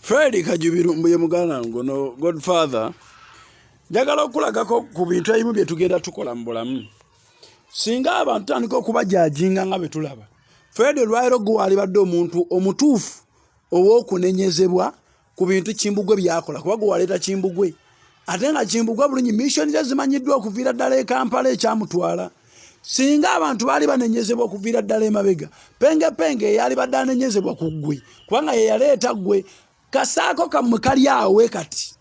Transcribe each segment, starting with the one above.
fred kajubiru mbuye muganda ngono godfather njagala okulagako ku bintu ebimu bye tugenda tukola mu bulamu singa abantu tandika okubajajinga nga bwe tulaba fred olwaliro gwe walibadde omuntu omutuufu ow'okunenyezebwa ku bintu kimbugwe byakola kuba gwe waleeta kimbugwe ate nga kimbugwa bulungi missoni ze zimanyiddwa okuviira ddala e kampala ekyamutwala singa abantu baali banenyezebwa okuviira ddala emabega pengepenge eyaali badde anenyezebwa ku ggwe kubanga yeyaleeta ggwe kasaako kammwe kali awe kati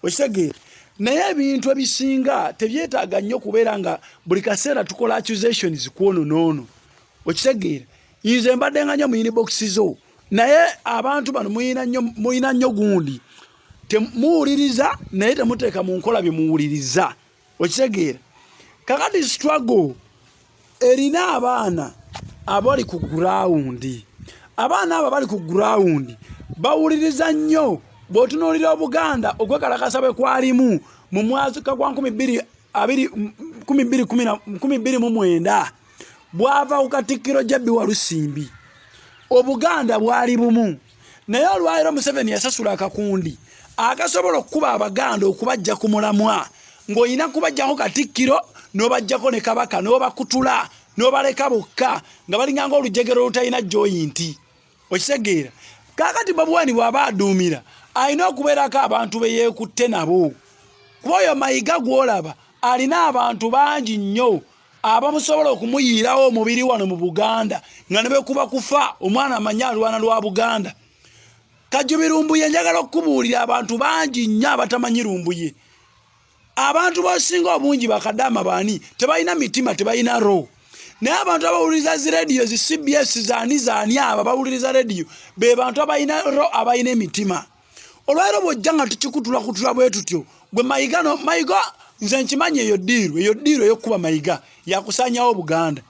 okitegeera naye ebintu ebisinga tebyetaaga nnyo okubeera nga buli kaseera tukola accusations kwono noono okitegeera nze mbadde nga nnyo muyini bokisi zo naye abantu bano muyina nnyo gundi temuwuliriza naye temuteeka mu nkola bye muwuliriza okitegeera kakati struggle erina abaana abali ku gurawundi abaana abo abali ku gurawundi bawuliriza nnyo bw'otunuulira obuganda okwekalakasa bwe kwalimu mu mwaka gwa 229 bwava ku katikkiro jabbi walusimbi obuganda bwali bumu naye olwaliro museveni yasasula akakundi akasobola okukuba abaganda okubajja ku mulamwa ng'olina kubajjako katikkiro n'obajjako ne kabaka n'obakutula n'obaleka bokka nga balinganga olujegero olutalina joyinti okitegeera kaakati babuwani bw'aba aduumira alina okubeerako abantu be yeekutte nabo kuba oyo mayiga gw'olaba alina abantu bangi nnyo abamusobola okumuyiirawo omubiri wano mu buganda nga ne bwekuba kufa omwana amanyi alwana lwa buganda kajubi lumbuye njagala okukubuulira abantu bangi nnyo abatamanyi lumbuye abantu bosinga obungi bakadaama baani tebalina mitima tebalina roho naye abantu abawuliriza zi rediyo zi cbs zaani zaani abo abawuliriza rediyo be bantu abalina ro abalina emitima olwaliro bwojja nga tukikutula kutula bwe tutyo gwe mayiga no mayiga nze nkimanyi eyo diiru eyo diiru eyokukuba mayiga yakusanyawo obuganda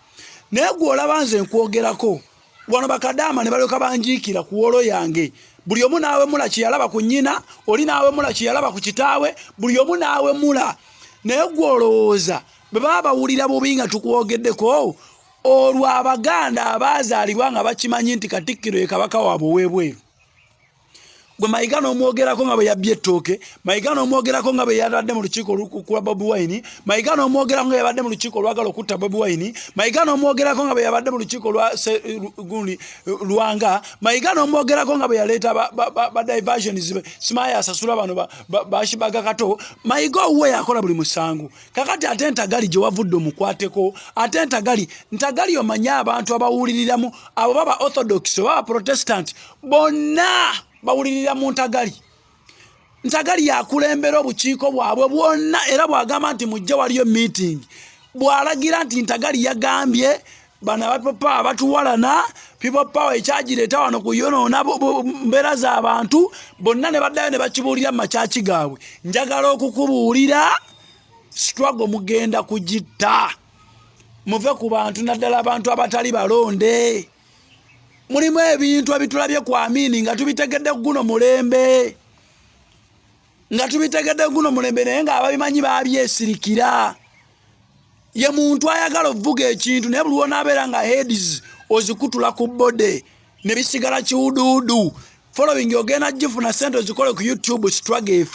naye gwe olaba nze nkwogerako wano bakadaama ne balyoka banjiikira ku wolo yange buli omu naawemula kyeyalaba ku nnyina oli naawemula kyeyalaba ku kitaawe buli omu naawemula naye gwe olowooza bwe baba bawulira bubi nga tukwogeddeko olwo abaganda abaazaalibwa nga bakimanyi nti katikkiro ye kabaka waabwe ow'ebweru gwe mayiga n'omwogerako nga bwe yabbye ettooke mayiga n'omwogerako nga bwe yabadde mu lukiiko olukukula bobi wine mayiga n'omwogerako nga yabadde mu lukiiko olwagala okutta bobi wine mayiga n'omwogerako nga bwe yabadde mu lukiiko lwagundi lwanga mayiga n'omwogerako nga bwe yaleeta badiversions simaya asasula bano bashibaga kato mayiga owuwe yakola buli musango kakati ate ntagali gye wavudde omukwateko ate ntagali ntagali omanye abantu abawuliriramu abo baba orthodox oba baprotestant bonna bawulirira mu ntagali ntagali yakulembera obukiiko bwabwe bwonna era bwagamba nti mujja waliyo meeting bwalagira nti ntagali yagambye bana bapopa abatuwalana people power ekyagireeta wano kuyonoona mbeera z'abantu bonna ne baddayo ne bakibuulira mu makyaki gaabwe njagala okukubuulira sitwago mugenda kugitta muve ku bantu naddala abantu abatali balonde mulimu ebintu ebitulabye ku amini nga tubitegedde kuguno mulembe nga tubitegedde kuguno mulembe naye nga ababimanyi babyesirikira ye muntu ayagala ovuga ekintu naye buli wonaabeera nga heads ozikutula ku bode ne bisigala kiwuduwudu following ogenda gifuna sente ozikole ku youtube struggle efe